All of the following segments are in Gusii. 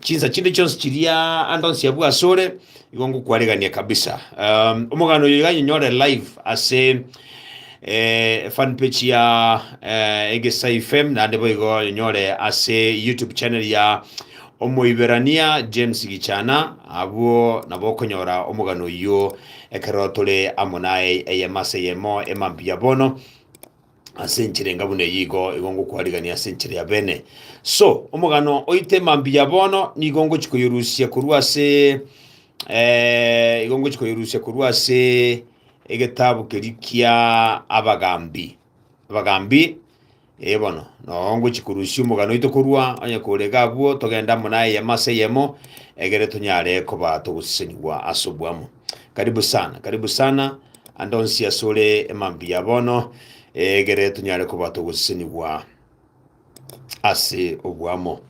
Chinsa chinde chionsi chiria ande onsi abwo asore, igo ngokwaregania kabisa. Um, omogano oyo iga nyore live ase eh, fan page ya eh, Egesai FM nande boigo nyore ase YouTube channel ya Omoiberania James Gichana abwo nabo okonyora omogano oyo ekero tore amo naye eyemase yemo emampi ya bono ase enchera enga buna eyio igo igo ngokwarigania ase enchera ya bene so omogano oite mambiya bono nigo ngochi koyorusia korwa ase eh, igo ngochi koyorusia korwa ase egetabu keri kia abagambi abagambi eh bono no ngochi korusia omogano oito korwa onye korega abwo togenda amo naye eyemo ase eyemo egere tonyare koba togosesenigwa ase obwamo karibu sana karibu sana Ande onsi asore emambuya bono, egere tonyare koba togosesenigwa ase oboamo.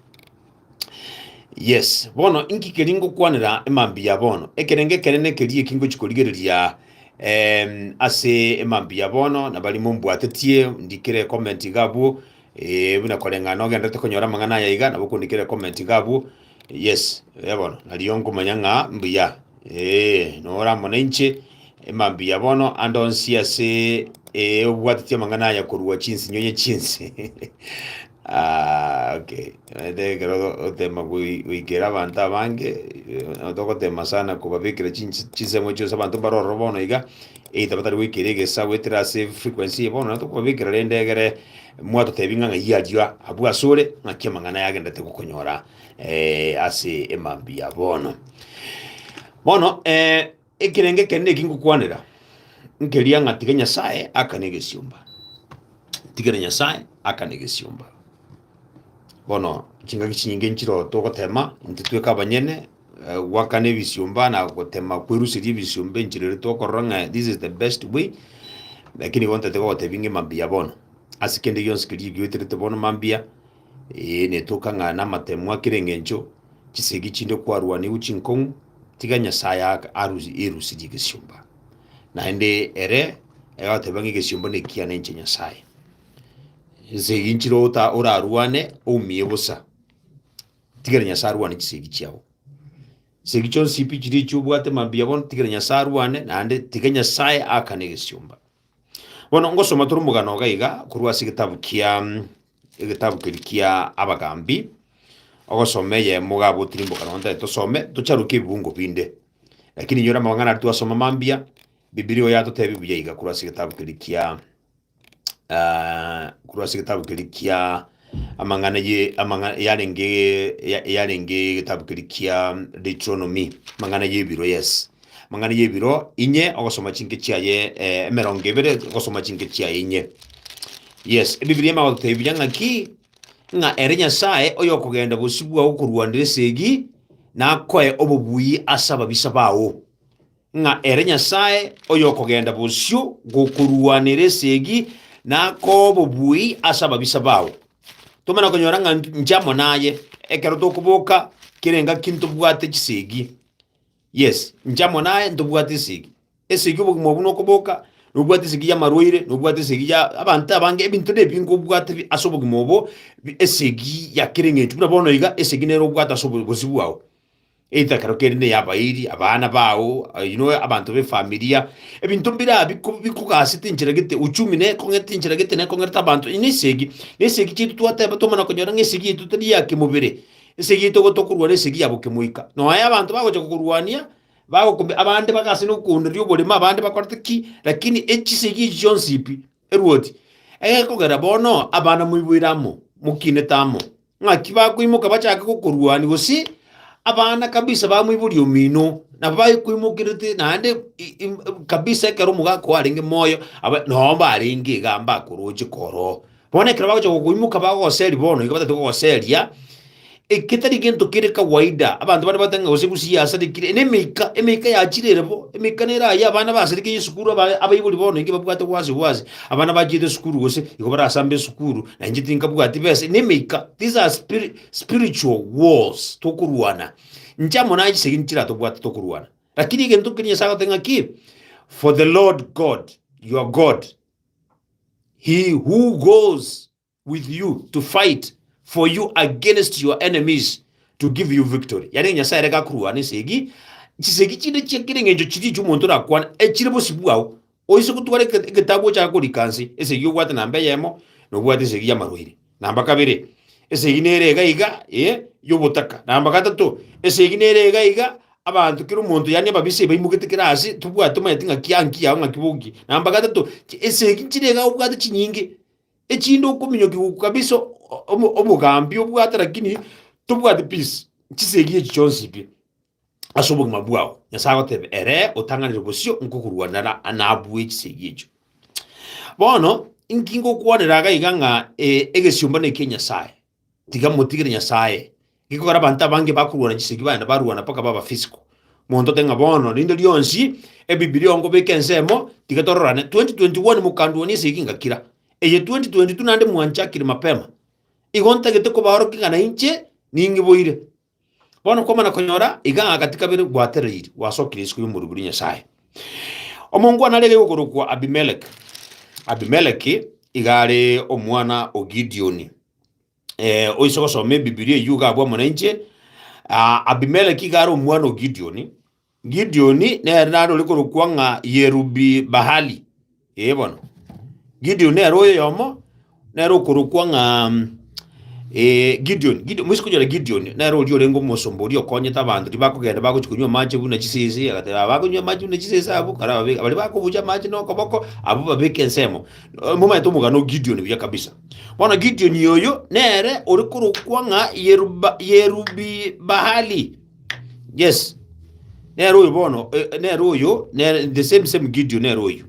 Yes, bono inki keri ngokwanera emambuya bono? Ekerenge ekere nekeri eki ngochi korigereria em, ase emambuya bono nabari mombwatetie ndikire comment iga abwo eh, buna koreng'ana ogenderete konyora amang'ana aya iga nabo okondikire comment iga abwo Yes, eh, bono nario nkomanya ng'a mbuya. Eh, nora amo nainche, ema mbuya bono ande onsi ase eh, obwateti amang'ana aya korwa chinsinyoye chinsi. Ah, okay. Ende ekero otema goi- goikera abanto abange, eh, togotema sana kobabekera chinsi- chinsemo chionsi abanto mbare ororo bono iga, either batari goikera egesa goetera ase frequency eye bono, naye tokobabekera rende egere Mwatotebi ng'a ng'ai achia abwo asore, ng'aki amang'ana yagenderete gokonyora eh, ase emambia ya bono. Bono eh, ekerenge ekere neki ngokwanera nkeria ng'a tiga Nyasaye akane egesiomba, tigere Nyasaye akane egesiomba. Bono chingaki chinyinge nchiro togotema intwe tweka abanyene eh, gwakana ebisiomba na gotema kweruseria ebisiomba enchera ere tokorora ng'a this is the best way lakini igo ntatete gogotebia ng'a emambia bono ase kende gionsi keria egiweterete bono mambia ee netoka ng'a namatemu akere engencho chisegi chinde kwarwaniwu chinkong'u tiga nyasaye aka- arusi- erusirie egesiomba naende ere egoteba ng'a egesiomba nekiya nenche nyasaye nsegi nchire ota- orarwane oumie bosa Tigera Nyasae arwane chisegi chiao. Chisegi chionsi pi chiria echio obwate mambia bono, tigera Nyasae arwane, naende tiga Nyasae aakane egesiomba. Bono ngosoma tore omogano iga iga korwa ase egetabu kia mm, egetabu keri kia Abagambi, ogosoma eyemo iga abwo tirimboka nonya ntari tosome, tocharokie ebibungo binde. Lakini inyora amang'ana aria twasoma mambia, Bibilia oyo yatotebi buya iga korwa ase egetabu keri kia ah, korwa ase egetabu keria kia amang'ana ye amang'ana yarenge ya- yarenge egetabu keria kia Deuteronomy amang'ana y'ebiro yes amang'ana y'ebiro inye ogosoma chinke chiaye eh, emerongo ebere ogosoma chinke chiaye inye yes ebibilia ime agotebiria ng'aki ng'a ere nyasaye oyokogenda bosio bwao korwanera esegi nakoe obobuyi ase ababisa bao ng'a ere Nyasae oyokogenda bosio gokorwanera esegi na akoa obobui ase ababisa bao. Tomana konyora ng'a nche amo naye ekero tokoboka kera engaki ntobwate chisegi. Yes, nche amo naye ntobwate esegi. Esegi obogima obwo nokoboka, nobwate esegi y'amarwaire, nobwate esegi ya abanto abange, ebinto nebi nkobwate bi- ase obogima obo, bi- esegi ya kera eng'encho. Buna bono iga esegi nere obwate ase obo- obosio bwao. Egetakero kende ne y'abairi, abana bao, you know, abanto b'efamilia, ebinto mbira biko- bikogasete enchera gete, uchumi nere ekong'ete enchera gete nere ekong'erete abanto, eye nesegi, nesegi chiaito twateba twamana konyora ng'a esegi yaito tari ya kemobere, esegi yaito igo tokorwana esegi ya bokemoika. Noe abanto bagocha kokorwania, bagokumia abande bagase nokoondereria oboremo, abande bakorete ki, lakini echisegi echi chionsi pi. eruoti, egekogera bono abana moiboire amo, mokinete amo, ng'aki bakoimoka bachake gokoruania, gose abana kabisa bamoiboria omino, nabo bakoimokerete naende i- im- kabisa ekero omogaka oo arenge moyo, aba noo mbarenge igaa mbakoroche koroo. Bono ekero bagocha gokoimoka bagogoseria bono, iga batagete kogoseria, Eke tari gento kere kawaida. Abanto bande bateba ng'a gose egusi yasarekire. Ene emeika, emeika yachire ere bo. Emeika nere aya, abana basarekire esukuru, aba abaibori bono inki babwate gwase gwase. Abana bachiete esukuru gose igo barasamba esukuru, na inche tinkabwati besa. Ene emeika. These are spiri- spiritual wars tokorwana. Inche amo naye chisegi nchiratobwate tokorwana. Lakini egento keria Nyasae agoteba ng'a ki? For the Lord God, your God, he who goes with you to fight for you against your enemies to give you victory. Yani Nyasaye reka akurwane esegi, chisegi chinde chia kera eng'encho chiria echio omonto orakwane echire bosio bwao, oise gotwara eke- egetabu ochake korika nse, esegi obwate namba eyemo, na obwate esegi y'amarwaire. Namba kabere, esegi nere iga iga, ee, y'obotaka. Namba gatato, esegi nere iga iga, abanto kera omonto yani ababisa ebaimogete kera ase, tobwate omanyeti ng'aki anki yao ng'aki boki. Namba gatato, chi- esegi nchire iga obwate chinyinge, Echinde okominyokia goku kabisa o- obo- obogambi obwate lakini tobwati peace chisegi echi chionsi pi ase obogima bwao nyasaye agoteba ere otang'anire bosio nkokorwanera nabwo echisegi echio bono inki ngokwanera iga iga ng'a eh, egesiomba nekia nyasaye Tiga motigere Nyasae. Gekogera abanto abange bakorwana chisegi baye na barwana mpaka baba physical. Monto ote ng'a bono rinde rionsi Ebibilia onkobeka ensemo, tiga tororane. 2021 mokandwania esegi ngakira. Eye 2022 naende mwanchakire mapema. Igo ntagete kobaorokia ng'a nainche ning'iboire. Bono kwamana konyora iga agati kabere gwatereiri gwasokire isiko y'omorwoti bwa Nyasae. Omongwana arege gokorokwa Abimeleki. Abimeleki iga are omwana o Gideoni. Eh, oise gosoma ebibilia eyio iga abwamo nainche. Ah, Abimeleki iga are omwana o Gideoni. Gideoni nere narore korokwa ng'a Yerubi-Bahali. Ee bono, Gideoni nere oyoyomo, nere okorokwa ng'a eh, Gideoni. Gideoni, mwise konyora Gideoni, nere oria orenge omosomba oria okonyete abanto, riba akogenda bagochi konywa amache buna chisese, agateba abakonywa amache buna chisese abwo, kare ababe- baria bakobucha amache nokoboko, abwo babeke ensemo. Eh, Momaete omogano o Gideoni buya kabisa. Bono Gideoni oyo nere ore korokwa ng'a Yeruba- Yerubi-Bahali. Yes. Nere oyo bono, eh, nere oyo, nere, the same same Gideon nere oyo.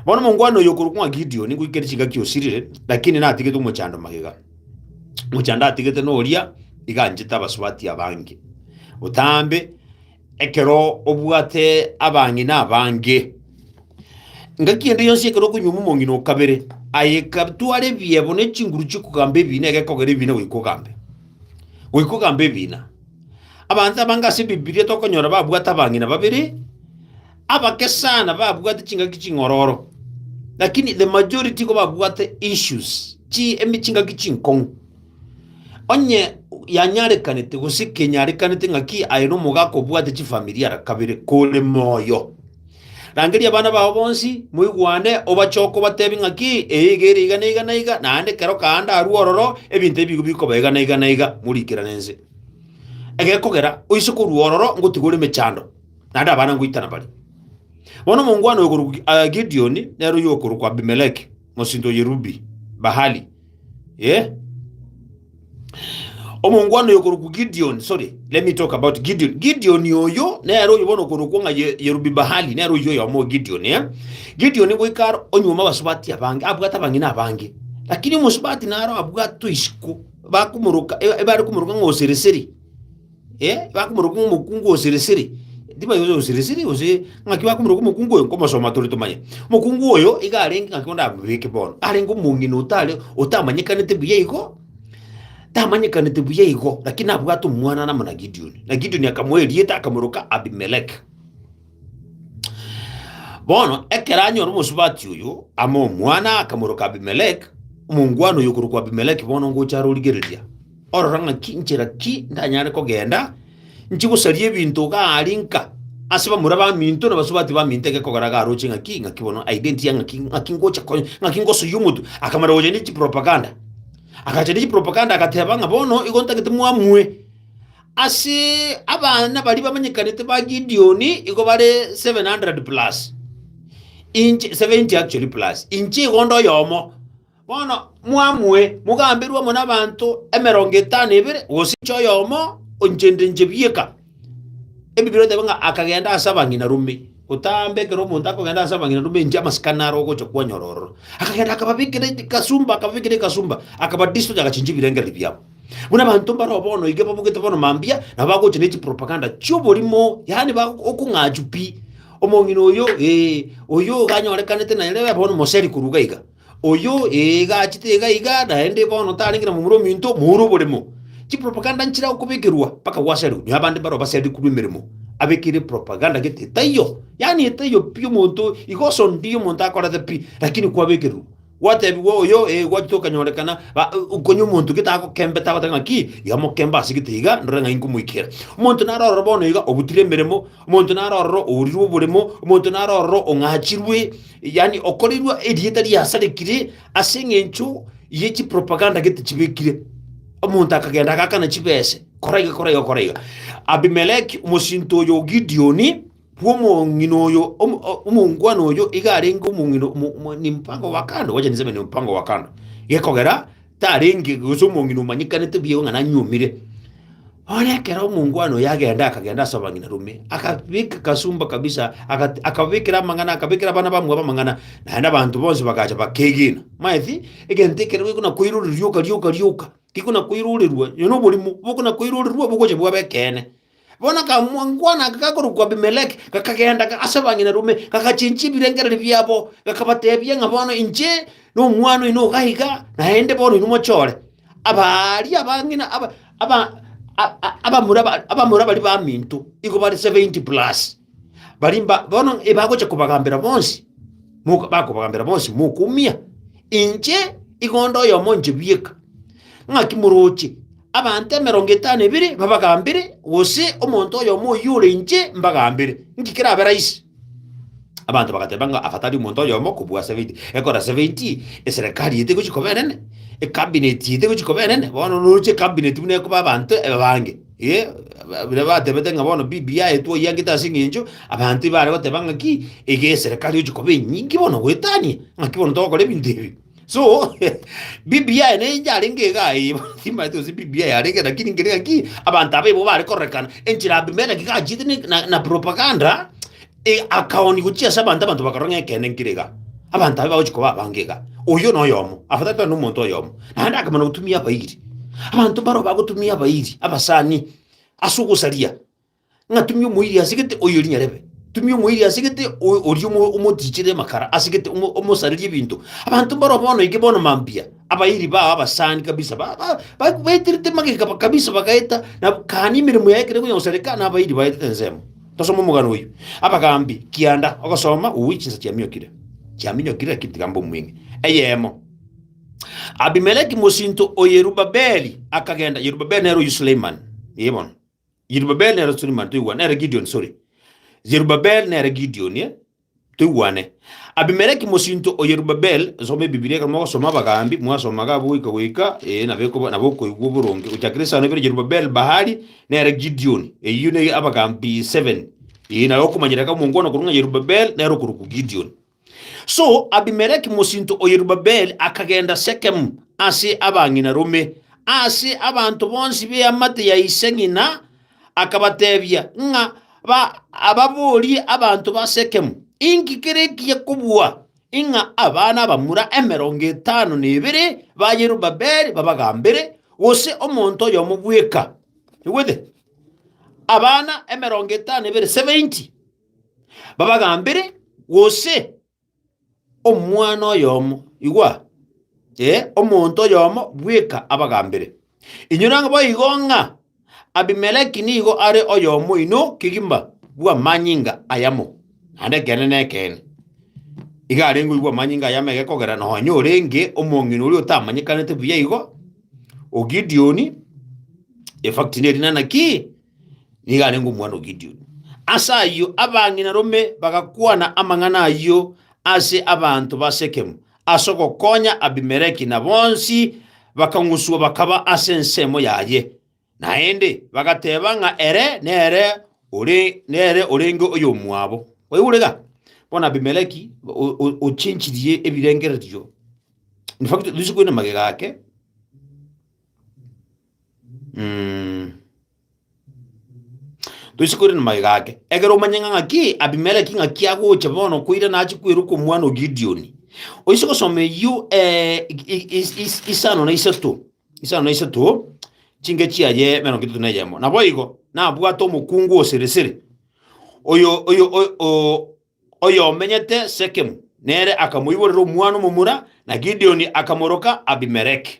Bono mongwana oyo okorwa kwa Gideon gwikere chingaki osirire, lakini natigete omochando magega. Omochando atigete noria iganchete abasubati abange. Otambe ekero obwate abang'ina abange. Ngaki ende yonsi ekero okonywa omong'ina okabere, aye kabtware ebiebo ne chinguru chikogamba ebine egekogera ebine goika ogambe. Goika ogamba ebiina. Abanto abange ase Ebibilia tokonyora babwate abang'ina babere, abake sana babwate chingaki ching'ororo, lakini the majority igo babwate issues, chi emi chingaki chinkong'u. Onye yanyarekanete gose kenyarekanete ng'aki aye nomogaka obwate chifamiri ara kabere kore moyo. Rangeria abana bao bonsi, moigwane, obache okobatebia ng'aki eye iga ere iga na iga na iga, naende kero kaanda arue ororo, ebinto ebi bigo bikoba iga na iga na iga, moriikerane inse. Egekogera oise korua ororo ngotiga ore emechando, naende abana ngoitana bare. Bono omongwana oyo okorokwa Gi- ah, Gideoni nere oyo okorokwa Abimeleki, mosinto o Yerubi-Bahali, Eh? omongwana oyo okorokwa gideon sorry let me talk about gideon gideon oyo nere oyo bono okorokwa ng'a Ye- yerubibahali nere oyo oyomo o gideon eh? gideon goikara onyuma abasubati abange abwate abang'ina abange lakini omosubati naro abwatwe isiko bakomoroka e- ebare komoroka ng'a osereseri Eh, bakomoroka ng'a omokungu o sirisiri. Timanya gose osirisiri gose ng'aki bakomoroka omokungu oyo nkomosoma tore tomanye. Omokungu oyo iga arenge ng'aki onde amobeke bono. Arenge omong'ina otare otamanyekanete buya igo, tamanyekanete buya igo, lakini nabwate omwana namana Gideoni. Na Gideoni akamoa erieta akamoroka Abimeleki. Bono ekero anyora omosubati oyo amo omwana, akamoroka Abimelek, omongwana oyo okorokwa Abimelek bono ngocha arorigereria, orora ng'aki nchera ki ndanyare kogenda nchie gosaria ebinto iga aria nka ase bamura baminto na basubati baminto egekogera iga aroche ng'aki ng'aki bono identity ya ng'aki ng'aki ngocha ko ng'aki ngosoyia omotwe. Akamara gocha ne chipropaganda, agacha ne chipropaganda agateba ng'a bono igo ntagete mwamue. Ase abana baria bamanyekanete ba Gideoni igo bare 700 plus, inche, 70 actually plus, inche igo onde oyomo. Bono mwamue, mogamberwe amo n'abanto emerongo etano ebere, gose inche oyomo, inche nde inche bieka. Ebibiri oteba ng'a akagenda ase abang'ina rume, gotambe ekero omonto akogenda ase abang'ina rume inche amasikani aro ogocha kwanyora ororo. Akagenda akababekera kasumba, akababekera ekasumba, akabadisocha agachincha ebirengererio biabo. Buna abanto mbaroo bono iga babogete bono mambia, nabo bagocha ne chipropaganda chi'oborimo, yaani ba okong'achu pi. Omong'ina oyo, ee, oyo iga anyorekanete naye rebe bono moseri korwa iga iga. Oyo, ee, iga achete iga iga, naende bono tarenge na momura ominto, moure oboremo. Chipropaganda nchire agokobekerwa mpaka gwaserwe, nyo abande mbaroo baserire korwa emeremo, abekeire propaganda gete etaiyo, yaani etaiyo pi omonto iga osondirie omonto akorete pi, lakini kwabekererwa. Gwatebigwa oyo, ee, gwachete okanyorekana, ba- konya omonto gete agokembete agoteba ng'aki, iga mokembe ase gete iga, ndore ng'ai nkomoikera. Omonto nare ororo bono iga obutire emeremo, omonto nare ororo ourirwe oboremo, omonto nare ororo ong'achirwe, yaani okoreirwe erieta riasarikire ase eng'encho ye chipropaganda gete chibekire. Omonto akagenda agakana chibese, kora iga, kora iga, kora iga. Abimeleki, omosinto oyo o Gideoni, bw'omong'ina oyo, omo- o- omongwana oyo iga arenge omong'ina omo- omo- ni mpango wa kando, wacha niseme ni mpango wa kando, gekogera tarenge gose omong'ina omanyekanete bieka ng'a nanyuomire. Bono ekero omongwana oyo agenda akagenda ase abang'ina rume, akabeka kasumba kabisa, agat- akabekera amang'ana, akabekera abana bamwabo amang'ana, naende abanto bonsi bagacha bakegena. Maeti, egento ekero gekona koirorerwa rioka rioka rioka, gekona koirorerwa, oyo noborimo, bokona koirorerwa bogocha bwabe ekeene. Bono akamwankwana aka gakorokwa Abimeleki, gakagenda ase abang'inarume, gakachinchia ebirengererio biabo, gakabateebia ng'a bono inche nomwana oino iga iga, naende bono inwe mochore. Aba aria abang'ina abamura baria baminto, igo bare seventy plus. Baria mba- bono ebagocha kobagambera bonsi, moka- bakobagambera bonsi mokoumia, inche igo onde oyomo inche bieka. Ng'aki moroche abanto emerongo etano ebere babagambere, gose omonto oyomo oyio ore inche mbagambere? Inki kerabe raisi? Abanto bagateba ng'a afatari omonto oyomo kobua seventy. Ekora seventy, eserekari eye tegochi koba enene, ekabinet eye tegochi koba enene, bono noroche ekabinet buna ekoba abanto ebabange. Ee, ba- baria batebete ng'a bono Biblia yaye twaiangete ase eng'encho abanto ibare goteba ng'aki iga eserekari ochi koba enyinge bono goetania ng'aki bono togokora ebinto ebi so Biblia yaye neye yarenge iga aye bono timanyete gose Biblia yaye yarenge lakini nkere ng'aki abanto abaibo bare kororekana enchera Abimeleki gachiete ne- na- na propaganda E, akaoni gochia ase abanto, abanto bakarora ng'a ekeene nkire iga, abanto abe bagochia koba abange iga, oyio na oyomo, after that na omonto oyomo, naende akamana gotumia abairi. Abanto mbaro bagotumia abairi, abasani, ase ogosaria, ng'a tumia omoiri ase gete, oyio rinyarebe, tumia omoiri ase gete, o- oria omo- omotichire amakara ase gete, omo- omosarerie ebinto. Abanto mbaro bono eke bono mambia, abairi bao abasani kabisa, ba- ba- ba- baeterete magega ba- kabisa bagaeta, nabo kani emeremo yaye ekero ekonya gosareka, na abairi baetete ensemo. Tosome omogano oyio. Abagaambi kianda ogosoma ow'oichi chinsa chiaminyokire, chiaminyokire, lakini tiga mbe omweng'e. Eyemo. Abimeleki mosinto o Yerubabeli akagenda. Yerubabeli nere oyio Suleiman. Ee bono. Yerubabeli nere Suleiman toigwa. Nere Gideon, sorry. Yerubabeli nere Gideon, eh? Toigwane. Abimeleki mosinto o Yerubabel, nsome Ebibilia ekero mogosoma abagambi, mwasomaga abo goika goika, ee, na bekoba- na bokoigwa oboronge. Gochakera esano ibere Yerubabel, Bahali, nere Gideoni. Eyio ne abagambi seven. Ee, na okomanyera iga omongwana korwa ng'a Yerubabel nere okorokwa Gideoni. So Abimeleki mosinto o Yerubabel akagenda Sekemu ase abang'ina rome, ase abanto bonsi b'eamate ya ise ng'ina, akabateebia ng'a ba- ababorie abanto ba Sekemu, Inki kere ekiya kobua ng'a abana abamura emerongo etano na ebere ba Yerubabeli babagambere, gose omonto oyomo bweka? Igwete? Abana emerongo etano na ebere, 70, babagambere, gose omwana oyomo, igwa, ee, omonto oyomo bweka abagambere. Inwe nang'o boigo ng'a Abimeleki nigo are oyomo oino kegima bw'amanyinga ayamo? Naende ekeene nekeene, iga arenge oyio bw'amanyinga ayamo ege kogera nonye orenge omong'ina oria otamanyekanete buya igo, o Gideoni, efakti nerina naki? nigo arenge omwana o Gideoni. Ase ayio abang'ina rome bagakwana amang'ana ayio ase abanto ba Sekemu ase ogokonya Abimeleki na bonsi bakang'uswa bakaba ase ensemo yaye, naende bagateba ng'a ere nere ore nere orenge oyomwabo. Oigure ga? Bono Abimeleki o- o- ochenchirie ebirengererio. In fact, risiku ere magega ake Mm. Toise koirana amagega ake ekero omanye ng'a ng'aki abimeleki ng'aki agocha bono koirana ache kweruka omwana o gideoni oise gosoma eyio eh, i- i- is- isano na isato isano na isato chinge chiaye emerongo etato na eyemo naboigo nabwate omokungu o siri siri oyo oyo oyo- o- oyo omenyete sekemu nere akamoiborera omwana omomura na gideoni akamoroka abimeleki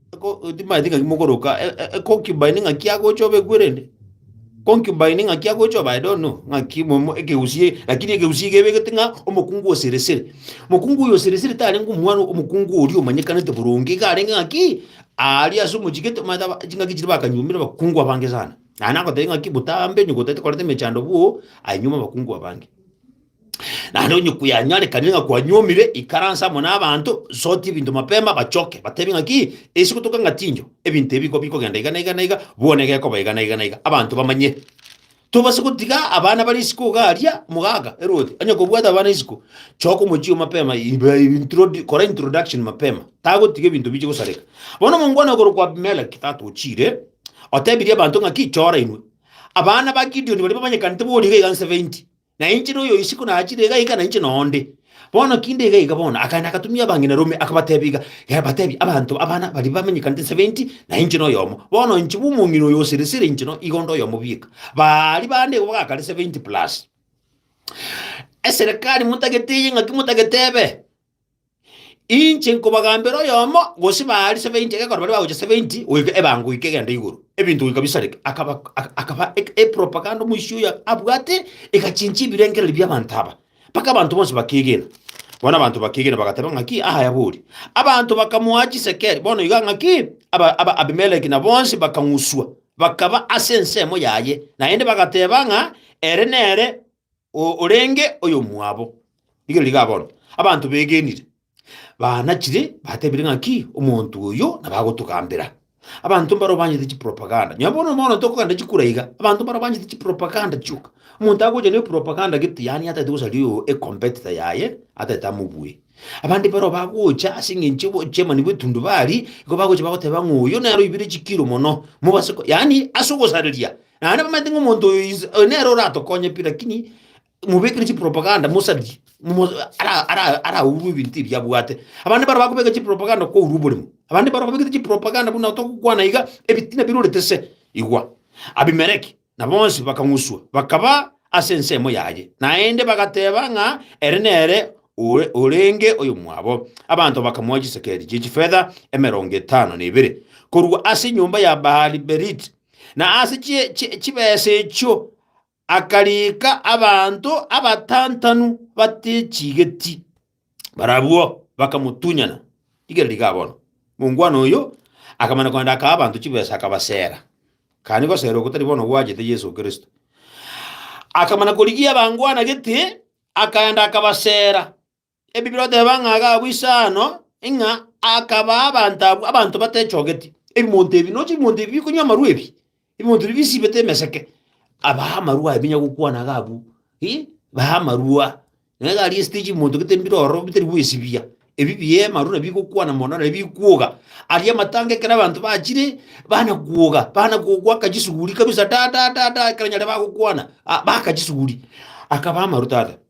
Eko- Timanyeti ng'aki mokoroka e- e- econcubine ng'aki agocha obe ekwerende concubine ng'aki agocha oba I don't know ng'aki momo ekeusie lakini ekeusie iga ebegete ng'a omokungu o siri siri mokungu oyo siri siri tarenge omwana omokungu oria omanyekanete boronge iga arenge ng'aki aria ase omochigete omanyete aba- ching'aki chiria bakanyuomire abakungu abange sana naende agotebi ng'aki botambe nyoko otagete koreta emechando bwo ainyuoma abakungu abange. Naende onye kuyanyarekanire ng'a kwanyuomire, ikaransa amo n'abanto, sotia ebinto mapema, bachoke, bateebie ng'aki, Ase gotoka ng'a tinyo, ebinto ebi nko bikogenda iga na iga na iga, bono egekoba iga na iga na iga, abanto bamanye. Tobasa gotiga abana bare isiko iga aria, omogaka erwoti onye kobwate abana isiko, choka omochie oo mapema, ibe introdi kora introduction mapema, tagotiga ebinto biche gosareka. Bono omongwana okorokwa Abimeleki, tata o chiire, otebirie abanto ng'aki, Chora inwe, abana ba Gideoni baria bamanyekanete boria iga iga 70, Na inche noyo oyo isiko nachire iga iga, na inche noo nde. Bono kinde iga iga bono, akaenda agatumia abang'ina rome, akabatebia iga, Yaye batebia, Abanto abana baria bamenyekanete 70, na inche noyomo. Bono inche bw'omong'ina oyo o siri siri, inche no, igo nde oyomo bieka. Baria bande igo bagakare 70 plus. Eserekari motagete eye ng'aki motagete ebe. Inche nkobagambera oyomo, gose baria seveenti egekora baria bagocha seveenti goika ebango goika egento igoro, ebinto goika bisareke. Akaba ak- akaba ek- epropaganda omoisia oyo abwate egachinchia ebirengererio bi'abanto aba, mpaka abanto bonsi bakeegena. Bono abanto bakeegena bagateba ng'aki, Aaya bori. Abanto bakamoa chisekeri, bono iga ng'aki, aba- aba- Abimeleki na bonsi bakang'uswa, bakaba ase ensemo yaye, naende bagateba ng'a ere nere. O orenge oyomwabo. Rigerio riga bono abanto begenire, baanachire, batebire ng'a ki omonto oyo nabo agotogambera. Abanto mbaro banyete chipropaganda. Nyo bono mono tokogenda chikura iga, abanto mbaro banyete chipropaganda chioka. Omonto agocha ne propaganda gete yaani atagete gosaria oyo e competitor yaye, atagete amobue. Abande mbaro bagocha ase eng'encho bo chairman bw'etundubari, igo bagocha bagoteba ng'a oyo nere oibire chikiro mono, mobase ko yaani ase ogosareria Naende bamanyete ng'a omonto oyo is- oyo nere oratokonye pi, rakini mobekire chipropaganda mosadie, momo ara- ara- araurwe ebinto ebi abwate. Abande mbaro bakobeka chipropaganda kourwa oborimo, abande mbaro babekete chipropaganda buna otogokwana iga, ebitina birorete se, igwa. Abimeleki na bonsi bakang'uswa, bakaba ase ensemo yaye, naende bagateba ng'a ere nere ore orenge oyomwabo. Abanto bakamoa chisekeri chi'echifeta emerongo etano na ibere korwa ase enyomba ya Baali-Beriti, na ase chi- chi- chibesa echio akariika abanto abatantanu batechigeti. Barabwo bakamotunyana. Rigereria igaa bono. Mongwana oyo akamana kogenda akaa abanto chibesa akabasera. Kani gosera oko tari bono gwachete Yeso Kristo. Akamana korigia abangwana gete, akagenda akabasera. Ebi biroteba ng'a agabua inse aano, ng'a akabaa abanto abwo abanto batechogeti, ebimonto ebi, noche ebimonto ebi bikonywa amarwa ebi, ebimonto ebi bisibete emeseke, abaa amarwa aye binya gokwana agabua, ii, baa amarwa. Nere iga aria esitichi ebimonto gete mbire ororo bitari gwesibia, ebi bieema amarwa nabio bigokwana mono nabio bikwoga. Aria amatanga ekero abanto bachire, bana kwoga, bana go- goaka chisuguri kabisa da da da da ekero nyare bagokwana, ah, baaka chisuguri, akabaa amarwa tata.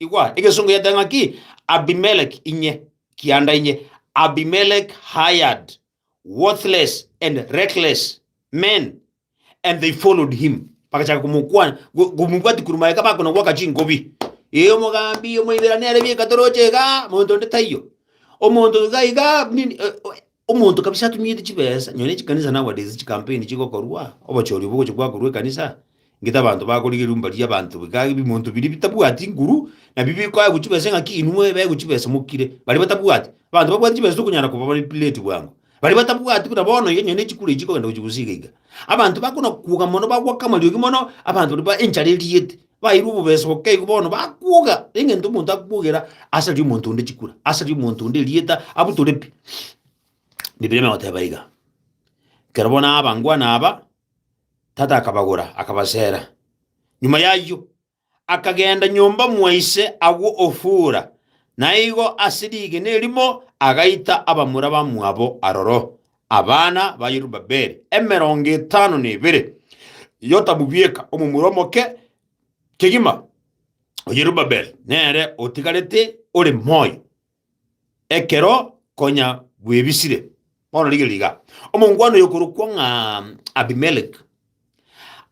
Igwa, egesongo yeteba ng'aki, Abimelek inye, kianda inye, Abimelek hired worthless and reckless men, and they followed him. Bagachaka komokwana, go- komobwati korwa maega, bakona gwaka chingobi. Ee, omogambi, omoibera nere bieka toroche iga, monto onde taiyo. Omonto iga iga, nini, eh, Omonto kabisa atunyete chibesa, nonye chikanisa na abareisi chikampeni chigokorwa, obochori obwo ogocha gwakorwa ekanisa, ngete abanto bakorigereria mbarie abanto bika ebimonto biria bitabwati nguru, nabio bikoegwa chibesa engaki inwe ebaegwe chibesa mokire, baria batabwati. Abanto babwate chibesa tokonyara kobamanipulate bwango. Baria batabwati buna bono iga nonye ne chikura echi chikogenda gochia gosiga iga. Abanto bakona kwoga mono bagoaka amariogi mono, abanto baria ba enchara eriete. bairwe obobeso bokeigo bono bakuga eng'ento omonto akugera asari omonto onde chikura asari omonto onde erieta abutore pi bibiri emegoteba iga kero bono abangwana aba tata akabagora akabasera nyuma yayio akagenda nyomba mwaise agwo ofura naigo ase rigena erimo agaita abamura bamwabo aroro Abana ba Yerubabeli emerongo etano na ebere, Yotamu bweka, omomura omoke kegima o Yerubabeli, nere otigarete ore moyo ekero konya bwebisire. Bono rigereria iga, omongwana oyokorokwa ng'a Abimeleki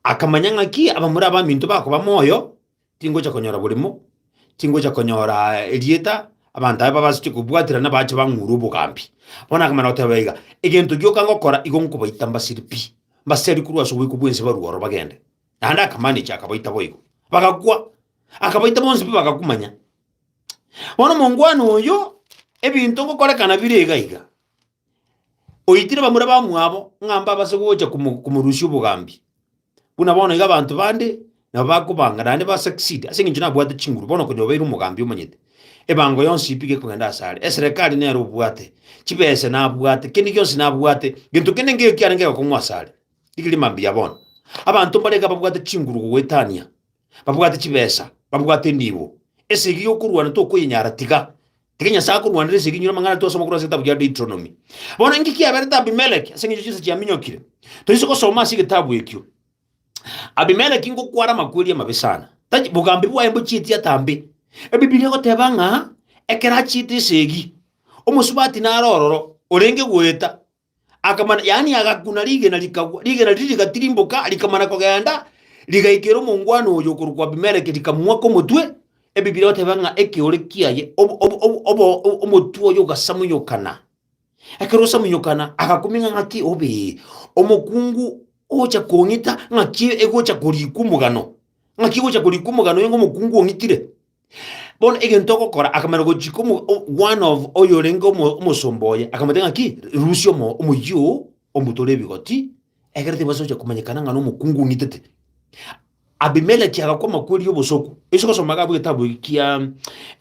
akamanya ng'aki abamura abaminto bakoba moyo Tingocha konyora borimo, tingocha konyora erieta, abanto aye babasache kobwaterana nabache bang'ure obogambi. Bono nakamana goteba iga, Egento gioka ngokora igo nkobaita mbasiri pi, mbaseri korwa ase oboiko bw'ense barue oro bagende. Naende akamanechia akabaita boigo. Bagakwa, akabaita bonsi pi bagakumanya. Bono omongwana oyo, ebinto ngokorekana bire iga iga. oitire bamura bamwabo ng'a mbabe ase gocha komo- komorusia obogambi. Buna bono iga abanto bande nabo bakobanga naende ba succeed ase eng'encho nabwate chinguru bono konya obeire omogambi omonyete. Ebango yonsi pi gekogenda ase are, eserekari nere obwate, chibese nabwate, kende gionsi nabwate, gento kende ngeyo kiarenge egokong'u ase are. Rigereria mambia bono, abanto mbare iga babwate chinguru gogoetania, babwate chibesa, babwate nibo, esegi yokorwana tokoyenyara tiga. Ekero Nyasae akorwanera esegi inyora amang'ana twasoma korwa ase egetabu kia Deuteronomy. Bono inki kiaberete Abimeleki ase eng'encho chinsa chiaminyokire? Toise gosoma ase egetabu ekio. Abimeleki ngokwara amakweri amabe sana. Tachi bogambi bwaye mbochieti atambe. Ebibilia egoteba ng'a ekero achiete esegi, omosubati nare ororo, orenge goeta, akamana, yaani agakuna rigena rikagwa, rigena riria rigatirimboka, rikamana kogenda, rigaikera omongwana oyo okorokwa Abimeleki, rikamwaka omotwe. Ebibiri bateba ng'a ekeore kiaye, obo- obo- obo- obo- o- omotwe oyo ogasamunyokana. Ekero osamunyokana, agakuming'a ng'aki obe omokungu ogocha kong'ita, ng'aki egocha korikwa omogano, ng'aki egocha korikwa omogano, onye ng'omokungu ong'itire. Bono egento ogokora akamana gochika omo- o- one of oyorenge omo- omosomba oye akamotebia ng'aki rusia omo- omoyio oo omotore ebigoti, egere tibasa gocha komanyekana ng'a nomokungu ong'itete. Abimeleki agakwa amakweri y'obosoku, ase ogosoma iga abwo egetabu eke kia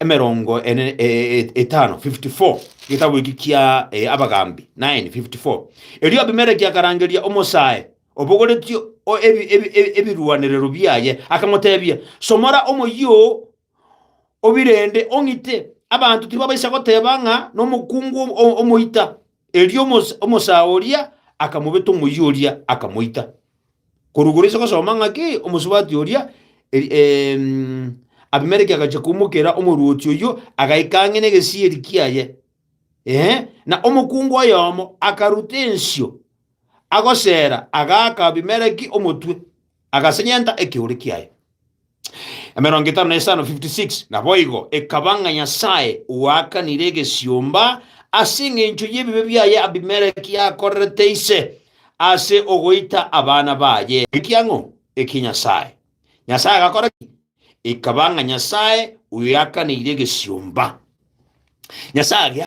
emerongo ene e- e- e- etano, 54, egetabu eke kia eh, Abagambi, nine, 54. Erio Abimeleki akarangeria omosae. obogoretie ebirwanerero biaye, akamotebia, Somora omoyio oo, obirende, ong'ite, abanto tibabaisa goteba ng'a nomokungu omoita. Erio omosaa oria akamobeta omoyio oria, akamoita. Korwa igoro inse gosoma ng'a ki? Omosubati oria Abimeleki agachia koumokera omorwoti oyio, agaika ang'e negesieri kiaye, ee, na omokungu oyomo akaruta ensio. agoseera, agaaka Abimeleki omotwe, agasenyenta ekeore kiaye. Emerongo etano na esano, 56 Naboigo ekaba ng'a Nyasae oakanire egesiomba ase engencho y'ebibe biaye Abimeleki akorerete ise, ase ogoita abana baye ekiang'o ekie Nyasae. Nyasae agakora ki? Ekaba ng'a Nyasae oakanire egesiomba. Nyasae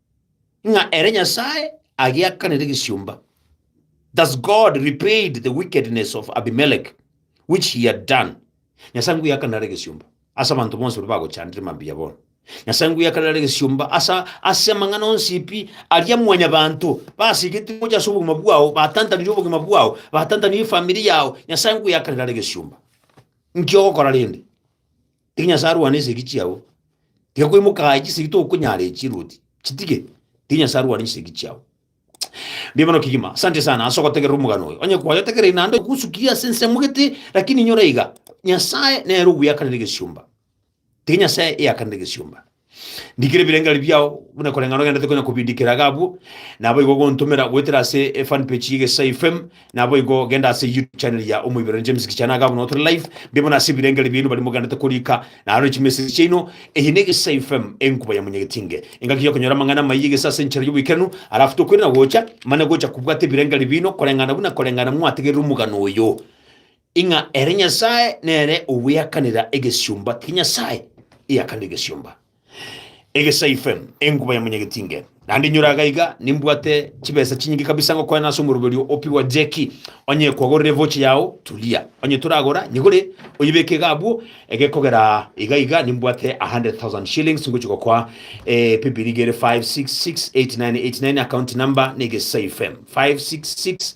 ng'a ere Nyasae agiakanire egesiomba. Thus God repaid the wickedness of Abimelech, which he had done. Nyasae ngwiakanire are egesiomba ase abanto bonsi baria bagochandire mambia bono. Nyasae ngwiakanire are egesiomba asa ase amang'ana onsi pi aria mwanyabanto basigetie gocha ase obogima bwao, batantanire obogima bwao, batantanire efamiri yao. Nyasae ngwiakanire are egesiomba. Nki ogokora rende? Tiga Nyasae arwane esegi chiao, tiga koimoka aye chisegi tokonyara echi Ruoti, chitige, tiga Nyasae arwane chisegi chiao. Mbuya mono kegima, asante sana ase ogotegerera omogano oyo. Onye kwaye otegereri naende ogosukirie ase ensemo gete, lakini inyora iga, Nyasae nere ogoyakanera egesiomba. Tiga Nyasae eyakanere egesiomba. Ndikire ebirengeri biao buna koreng'ana ogenderete konya kobindikera iga abwo, naboigo ogontomera goetera ase e fan page y'Egesai FM, naboigo genda ase YouTube channel ya Omoibero James Kichana iga abwo nao tore live, mbe buna ase ebirengeri biaino baria mogenderete korika, naro echimessage chiaino. Eye n'Egesai FM, enkuba ya Monyagetinge. Engaki y'okonyora amang'ana amaiyi egesa ase enchera y'oboikeranu, alafu tokoirana gocha, mane gocha kobwata ebirengeri biaino koreng'ana buna koreng'ana mwategerire omogano oyo. Ing'a ere Nyasae nere obweakanera egesiomba ki Nyasae, eakanire egesiomba egesaife, enguba ya monyagetinge. Naende inyora agaiga nimbwate chibesa chinyinge kabisa ngokoena ase omoroberio o Piwa Jeki, onye kwagorire evocha yao Tulia, onye toragora nyigure oyebeke iga abwo ege kogera iga iga nimbwate 100,000 shillings ngochia gokoa eh, pipiri iga ere 56689899 account number na egesaife 5668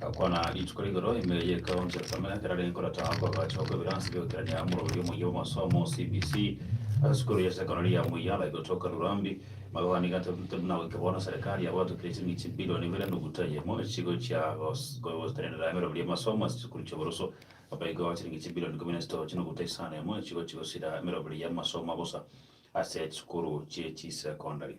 Gakwana rituko rigoro ime y'Ekaunti ya Samia ekero arenge korata okoagacha okw'ebiransi bi'ogokerania omorori omuya bw'amasomo, CBC, ase sukuru ya sekondari ya Muyala egotoka Rurambi. Magogani iga ntari buna goika bono serikari yabaatokire ching'iti chibilioni ibere nuguta eyemo echigochia gotenenera emeremo y'amasomo ase chisukuru chi'oboroso naboigo chiring'iti chibilioni ikomi na chitoji nuguta isano eyemo echigochia gosira emeremo y'amasomo bosa ase chisukuru chi'echisekondari.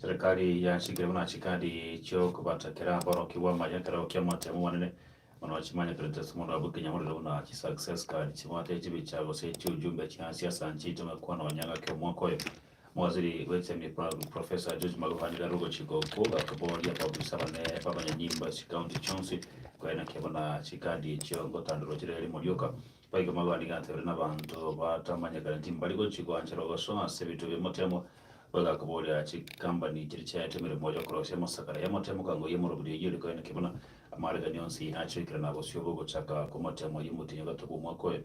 Serikari yachikire buna chikadi chi'okobatakera aborokigwa amaya ekero ki'amatemo manene mono chimanyekanete ase omonto abwo ekenyamorero buna chi'success card, chibwate chibicha gose chi'ujumbe chi'ansiasa nchiito ng'akwana onye ng'ake omwaka oyo. Mowaziri bw'Enchemi Professor George Magoha nigo arogochika okwo gakoboria abaofisa bane b'abanyanyimbo ase chikaunti chionsi koria naki abona chikadi echio gotandorwa chire rimo rioka. Boigo Magoha nigo atebire nabaanto batamanyekane timbari gochia goanchera ogosoa ase ebinto bi'omotemo. Boigo akoboria chikambani chiria chiaete emeremo y'okorosia amasakara y'amotemo kang'o y'emorobio eyio ere koria naki abona amariganio onsi achoikire na bosio bw'ogochaka kw'omotemo y'omotienyi o gatogo omwaka oye